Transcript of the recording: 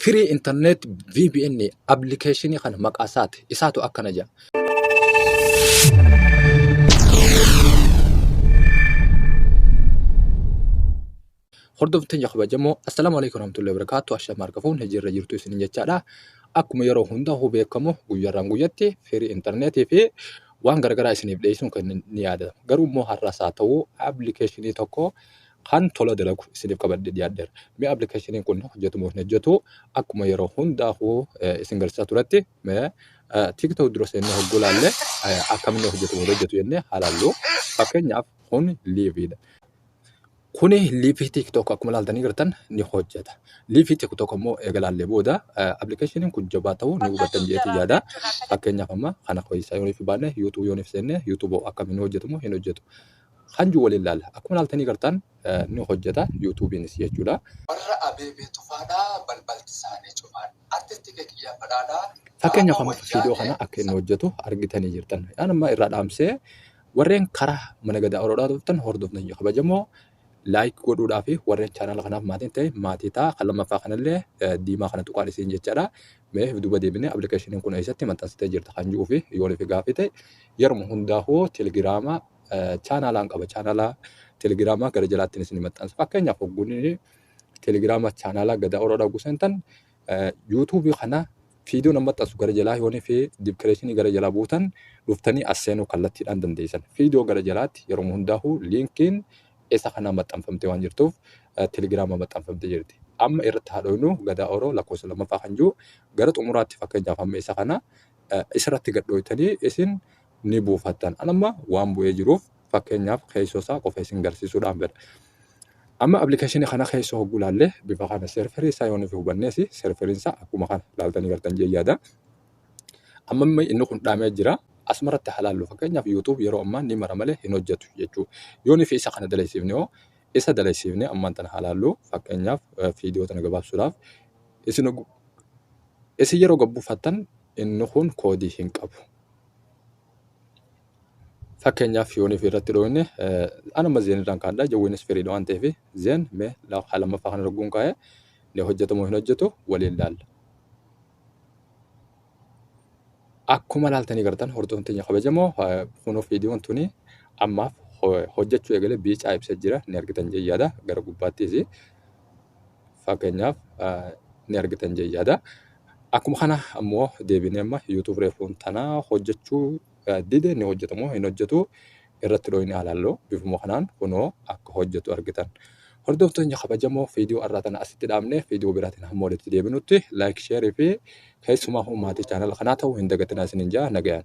Free internet VPN application kana maqaa isaati. Isaatu akkana jedha. Hordoftoota keenya kabajamoo assalaamu alaikum warahmatullahi wabarakatuh ashaa maarka fuun hijirra jirtu isin jechaadha. Akkuma yeroo hunda hubee kamu guyyarraan guyyatti firii intarneetii fi waan garagaraa isiniif dhiyeessuun kan ni yaadata. Garuu immoo har'as haa ta'u appilikeeshinii tokko kan tola dalagu isiniif qabadhee dhiyaadheera. Mee appilikeeshiniin kun hojjetu moo hin hojjetu akkuma yeroo hundaafuu isin garsiisaa turetti mee TikTok dura seennee hogguu laalle akkamitti hojjetu moo hojjetu jennee haa laallu. Fakkeenyaaf kun liiviidha. Kuni liivii TikTok akkuma laaltanii gartan ni hojjeta. Liivii TikTok immoo eega laallee booda appilikeeshiniin kun jabaa ta'uu ni hubattan jedheetiin yaada. Fakkeenyaaf amma kana keessaa yooniif baanne YouTube yooniif seenne YouTube akkamiin hojjetu moo hin hojjetu. Kan jiru waliin laalla. Akkuma laaltanii gartaan ni hojjeta yuutuubiinis jechuudha. Warra Abeebee Tufaadha balbalti isaanii cufaadha. Artisti kee kiyyaa badhaadha. Fakkeenyaaf Qaama amma wal viidiyoo kana jaate akka inni hojjetu argitanii jirtan. Yaan amma irraa dhaamsee warreen karaa mana gadaa oroodhaa dhuftan hordofna hin kabajamoo laayik godhuudhaa fi warreen chaanaala kanaaf maatiin ta'e maatii ta'a kan lammaffaa kanallee eh, diimaa kana tuqaan isiin jechaadha. Mee if duba deebinee appilikeeshiniin kun eessatti maxxansitee jirta kan ji'uu fi yoon ifi gaafii ta'e yeruma hundaa hoo telegiraama chaanaalaan qaba. Chaanaalaa telegiraamaa gara jalaattiin isin maxxansa. Fakkeenyaaf hogguun telegiraama chaanaalaa gadaa oroodha hogguu seentan yuutuubii kana fiidoo nama maxxansu gara jalaa yoonii fi dibkireeshinii gara jalaa buutan dhuftanii as seenuu kallattiidhaan dandeessan. Fiidoo gara jalaatti yeroo hundaa'u liinkiin isa kana maxxanfamtee waan jirtuuf telegiraama maxxanfamtee jirti. Amma irratti haadhoynu gadaa oroo lakkoofsa lammaffaa kan jiru gara xumuraatti fakkeenyaaf amma isa kana isirratti gadhooytanii isin ni buufattan. An amma waan bu'ee jiruuf fakkeenyaaf keessoo isaa qofa isin garsiisuudhaan fedha. Amma appilikeeshinii kana keessoo hogguu ilaallee bifa kana serverii isaa yoo nuuf hubannees serveriin isaa akkuma kana ilaaltanii gartan jee yaada. Amma immoo inni kun dhaamee jira. Asumarratti haa ilaallu fakkeenyaaf YouTube yeroo ammaa ni mara malee hin hojjetu jechuu. Yoo nufi isa kana daleessiifne hoo isa daleessiifne ammaan tana haa ilaallu fakkeenyaaf viidiyoo tana gabaabsuudhaaf isin isin yeroo gabbufattan Inni kun koodii hin qabu. Fakkeenyaaf yoon fi irratti dhooyne anuma zeen irraan kaadha jawweenis firiidha waan ta'eef zeen mee lafa lammaffaa kana rogguun kaa'e ni hojjetamoo hin hojjetu waliin laalla. Akkuma laaltanii gartan hordoftoonni keenya kabajamoo kunoo viidiyoon tuni ammaaf hojjechuu eegale biicaa ibsa jira ni argitan jee yaada gara gubbaattis fakkeenyaaf ni argitan jee yaada. Akkuma kana ammoo deebinee amma YouTube reefuun tana hojjechuu dide ni hojjeta moo hin hojjetu irratti dhooyne alaallo bifuma kanaan kunoo akka hojjetu argitan. Hordoftoonni kabajamoo viidiyoo irraa tana asitti dhaabne viidiyoo biraatiin hamma walitti deebinutti like share fi keessumaa maatii chaanala kanaa ta'uu hin dagatinaa isinin jaa nagayaan.